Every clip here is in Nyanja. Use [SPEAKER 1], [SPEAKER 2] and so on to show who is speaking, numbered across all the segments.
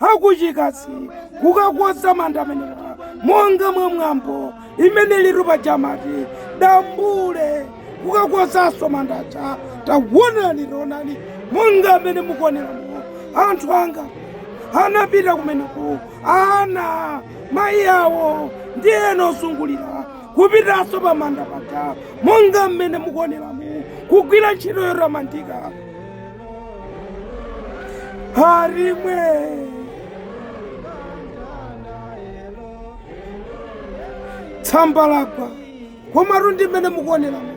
[SPEAKER 1] akuchikazi kukakonza manda amenewa monga mwa mwambo umene ulitu paja amati dambule kukakonzanso manda aja taonani taonani monga mmene mukuoneramo anthu anga anapita kumeneko ana mayi awo ndi ena ozungulira kupitanso pa manda paja monga mmene mukuoneramo kugwira ntchito yotamandika harimwe tsamba lagwa komatu ndi mmene mukuoneramo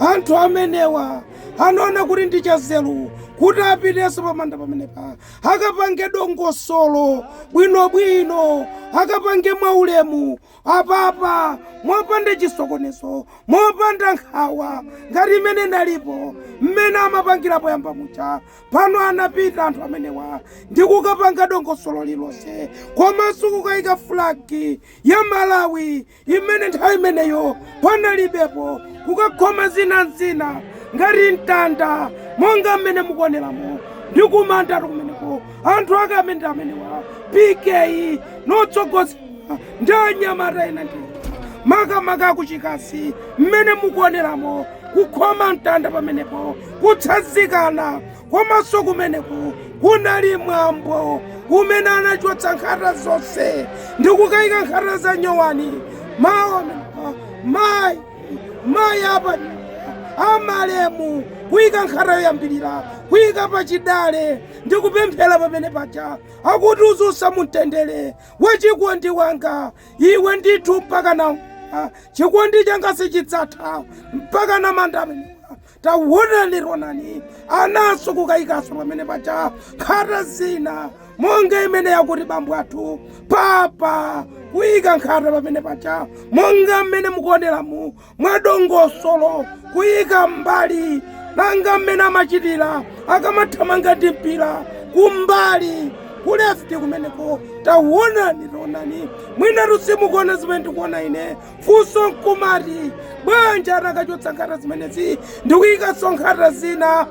[SPEAKER 1] anthu amenewa anaona kuti ndi chanzeru kuti apitenso pamanda pamenepa akapange dongosolo bwinobwino akapange mwaulemu apapa, mopanda chisokonezo, mopanda nkhawa ngati imene inalipo mmene amapangira poyamba muja. Pano anapita anthu amenewa ndi kukapanga dongosolo lilonse komanso kukayika flag ya Malawi imene nthawi imeneyo panalibepo, kukakhoma zina n'zina ngati mtanda monga mmene mukuoneramo ndi kumandatu kumeneko anthu ake amene ndi amenewa PK no tsogoza ndi anyamata ena ndi makamaka akuchikazi mmene mukuoneramo kukhoma mtanda pamenepo kutsanzikana komanso kumeneko kunali mwambo umene anachotsa nkhata zonse ndi kukayika nkhata za nyowani maona mayi mayi apa amalemu kuyika nkhata yoyambirira kuyika pachidale ndi kupemphera pamenepaja akuti uziusa mumtendere wachikondi wanga iwe ndithu mpaka na ah, chikondi changa sichidzatha mpaka na manda amenewa tawonani taonani ana nso kukayikanso pamenepaja nkhata zina monga imene yakuti bambo athu papa kuyika nkhata pamenepaja monga mmene mukuoneramu mwadongosolo kuyika m'mbali monga mmene amachitira akamathamanga ndi mpira kumbali ku left kumeneko tawonani tawonani mwinatu simukuona zimene ndikuona ine funso nkumati bwanji anakachotsa nkhata zimenezi ndikuyikanso nkhata zina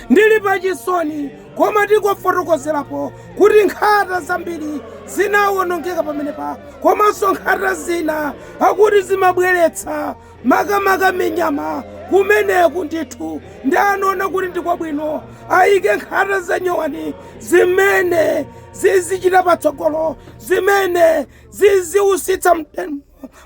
[SPEAKER 1] ndili pachisoni Koma tingofotokozerapo kuti nkhata zambiri zinawonongeka pamenepa, komanso nkhata zina akuti zimabweretsa makamaka minyama kumeneku ndithu ndi anaona kuti ndi kwabwino ayike nkhata za nyowani zimene zizichita patsogolo zimene ziziusitsa mte-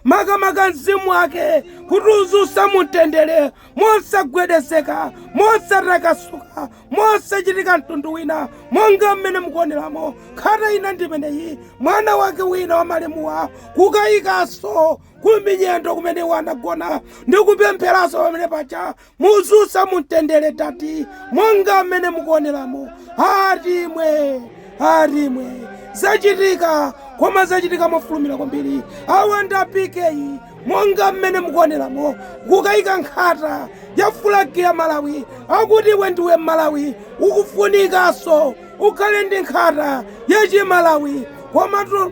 [SPEAKER 1] makamaka mzimu wake kuti uuse mumtendere mosagwedezeka mosatakasuka mosachitika mtundu wina monga mmene mukuoneramo nkhata ina ndimeneyi mwana wake wina wa malemuwa kukayikanso kuminyendo kumene iwo anagona ndi kupempheranso pamene paja muuse mumtendere tati monga mmene mukuoneramo atimwe atimwe zachitika koma zachitika mofulumira kwambiri awa ndi apikeyi monga mmene mukuoneramo kukayika nkhata ya fulagi ya malawi akuti iwe ndiwe mmalawi ukufunikanso ukhale ndi nkhata ya chimalawi komatu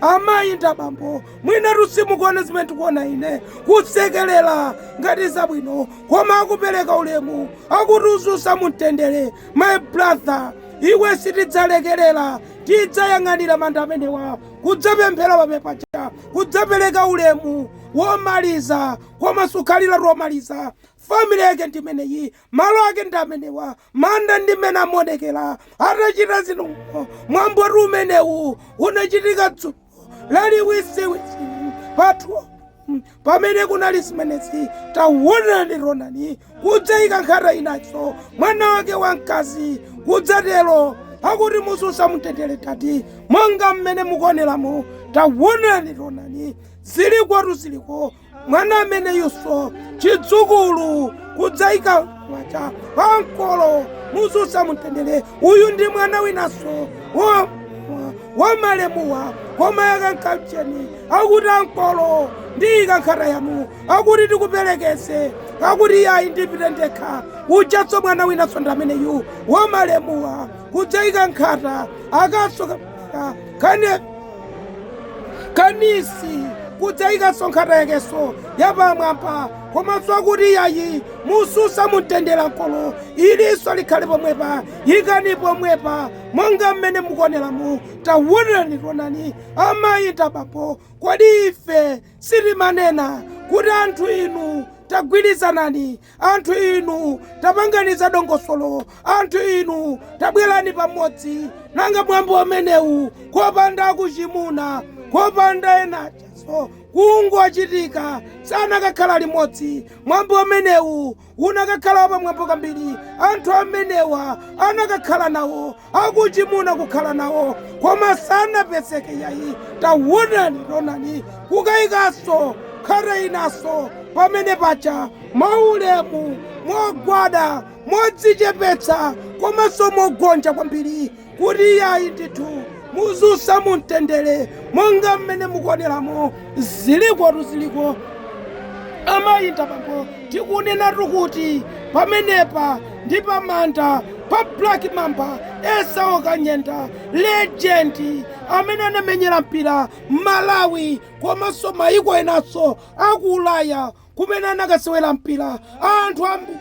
[SPEAKER 1] amayi ndi abambo mwinatu simukuona zimene tikuona ine kusekelela ngati zabwino koma akupereka ulemu akuti uuse mumtendere my brother iwe sitidzalekerera tidzayang'anira manda amenewa kudzapemphera pamepaja kudzapereka ulemu womaliza koma sukhalira tomaliza family yake ndimeneyi malo ake ndi amenewa manda ndi mmene amaonekera atachita zinthu. Mwambotu umenewu unachitika dzulo laliwisiwisi pathu pamene kunali zimenezi tawonani tawonani kudzayika nkhata inanso mwana wake wamkazi kudzatero akuti muuse mumtendere tati monga mmene mukuoneramo tawonani tawonani zilikotu ziliko mwana ameneyunso chidzukulu kudzaika manja pa ankolo muuse mumtendere uyu ndi mwana winanso wa- wa malemuwa koma yakankamcheni akuti ankolo ndiyika nkhata yanu akuti tikuperekeze akuti iyayi ndipite ndekha ujanso mwana winanso ndi ameneyu wa malemuwa kudzaika nkhata akasoka kane kanisi kudzaikanso nkhata yakenso yapamwamba komanso akuti yayi muuse mumtendere ankolo ilinso likhale pomwepa yikani pomwepa monga mmene mukuoneramu tawonani tawonani amayi ndi abambo kodi ife sitimanena kuti anthu inu tagwirizanani Anthu inu, tapangani za dongosolo. Anthu inu, tabwerani pamodzi. Nanga mwambo umenewu kopanda akuchimuna, kopanda ena achaso kungochitika anakakhala limodzi mwambo umenewu unakakhala wapamwamba kwambiri anthu amenewa anakakhala nawo akuchimuna kukhala nawo koma sanapezeke yayi tawonani tawonani kukayikaso nkhata inaso pamene paja mwaulemu mogwada modzichepetsa komanso mogonja kwambiri kuti yayi ndithu muzusa mumtendere monga mmene mukuoneramo zilikotu ziliko amayinda pambo Tikunenatu kuti pamenepa ndi pa manda pa Black Mamba Esau Kanyenda legend amene anamenyera mpira Malawi komanso mayiko enanso aku Ulaya kumene anakasewera mpira anthu ambiri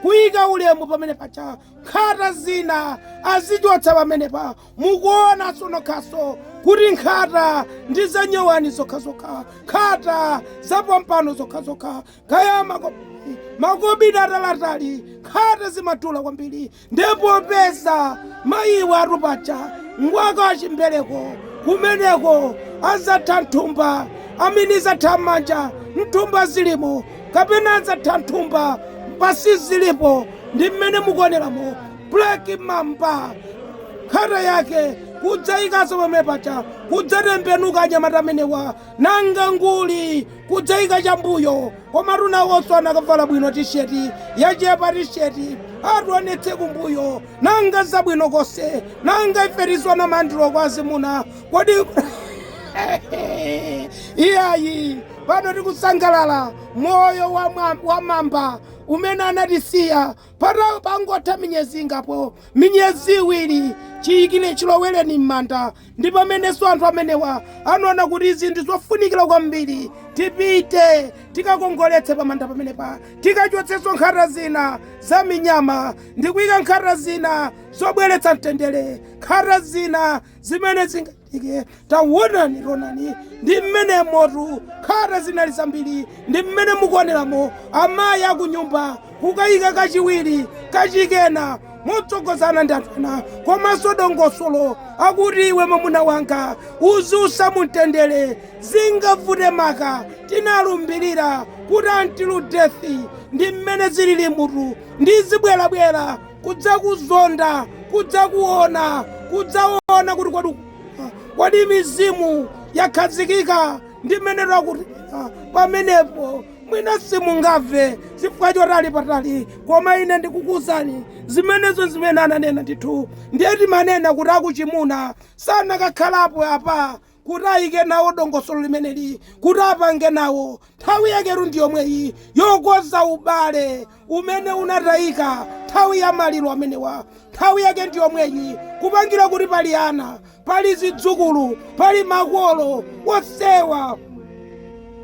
[SPEAKER 1] kuyika ulemu pamene paja nkhata zina azichotsa pamenepa Mukuonaso nokhaso kuti nkhata ndi za nyowani zokhazokha, nkhata za pompano zokhazokha, kaya makobidi, makobidi ataliatali, nkhata zimatula kwambiri. Ndiye popeza mayiwa atu paja ngwaka wa chimbereko, kumeneko adzatha m'thumba, amene zatha m'manja, m'thumba zilimo, kapena adzatha m'thumba basi zilipo. Ndi mmene mukuoneramo. Black Mamba nkhata yake kudzayikaso pamene paja kudzatembenuka anyamata amenewa nanga nguli kudzayika chambuyo koma twinawonso anakavala bwino tisheti yachepapo tisheti atuonetse kumbuyo nanga zabwino konse nanga ife tisowa na maliro kwa azimuna kodi iyayi pano tikusangalala moyo wa mwa- wa mamba umene anatisiya Patha pangotha minyezi ingapo, minyezi iwiri chiyikire chilowereni m'manda ndi pamenenso anthu amenewa anaona kuti izi ndi zofunikira kwambiri, tipite tikakongoletse pamanda pamenepa, tikachotsenso nkhata zina za minyama ndi kuyika nkhata zina zobweretsa mtendere, nkhata zina zimene zinga. Ike tawonani tawonani ndi mmenemotu nkhata zinali zambiri ndi mmene mukuoneramo amayi akunyumba kukayika kachiwiri kachikena motsogozana ndi anthu ena komanso dongosolo akuti iwe mwamuna wanga uzusa mumtendere zingavute maka tinalumbirira kuti until death ndi mmene zililimutu ndizibwerabwera kudzakuzonda, kudzakuwona, kudzawona kuti kodi, kodi mizimu yakhazikika ndi mmenetu akuti pamenepo mwina simungamve chifukwa choti ali patali koma ine ndikukuuzani zimenezo zimene ananena ndithu ndiye timanena kuti akuchimuna sanakakhalapo apa kuti ayike nawo dongosolo limeneli kuti apange nawo nthawi yaketu ndi yomweyi yokoza ubale umene unatayika nthawi ya maliro amenewa nthawi yake ndi yomweyi kupangira kuti pali ana pali zidzukulu pali makolo onsewa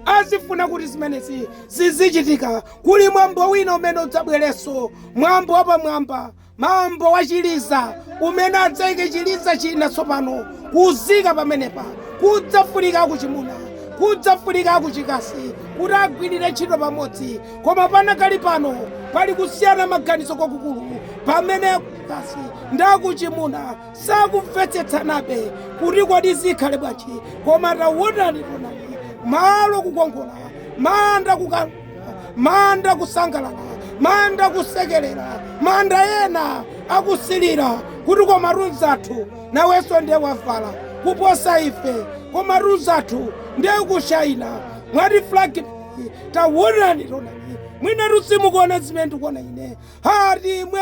[SPEAKER 1] azifuna kuti zimenezi zizichitika kuli mwambo wina umene udzabwerenso mwambo wapamwamba Mwambo wa chiliza umene adzaike chiliza china tsopano kuzika pamenepa kudzafunika akuchimuna kudzafunika akuchikazi kuti agwilire ntchito pamodzi koma panakali pano pali kusiyana maganizo kwakukulu pamene akuchikazi ndi akuchimuna sakumvetsetsanabe kuti kodi zikhale bwanji koma tawonani tonani malo kukongola manda kuka manda kusangalala manda kusekelera manda ena akusilira kuti komatu mzathu nawenso ndiye wavala kuposa ife komatu mzathu ndiye kushayina mwati flagi tawonani tonani mwina tu simukuona zimene ndikuona ine hatimwe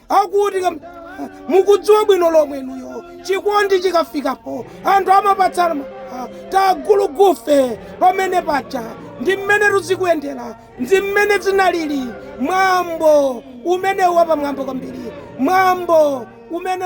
[SPEAKER 1] Akuti, Mukudziwa bwino lomwe inuyo, chikondi chikafikapo, anthu amapatsana ma tagulugufe pamene paja. Ndi mmenetu zikuyendera. Ndi mmene zinaliri. Mwambo umenewu wapamwamba kwambiri, mwambo umene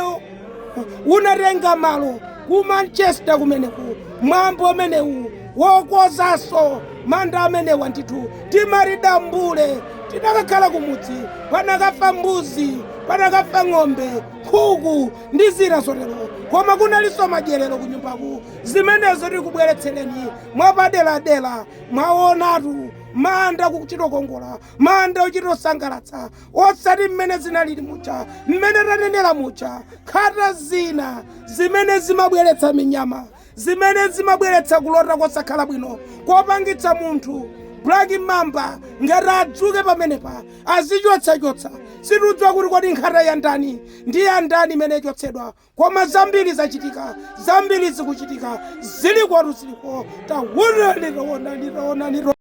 [SPEAKER 1] unatenga malo ku Manchester kumeneku, mwambo umenewu. Wokozanso manda amenewa ndithu timati dambule. Tinakakhala kumudzi, panakafa mbuzi, panakafa ng'ombe, nkhuku ndi zina zotero. Koma kunalinso madyerero kunyumbaku. Zimenezo tikubweretsereni mwapaderadera. Mwaonatu, manda kuchito kongola, manda kuchito sangalatsa, osati mmene zinalili muja, mmene tanenera muja, nkhata zina zimene zimabweretsa minyama Zimene zimabweretsa kulota kosakhala bwino kopangitsa munthu Black Mamba ngati adzuke pamenepa azichotsachotsa. Sitidziwa kuti kodi nkhata ya ndani ndi ya ndani imene ichotsedwa koma zambiri zachitika, zambiri zikuchitika, zilikotu ziliko, taonani, taonani, taonani, taonani.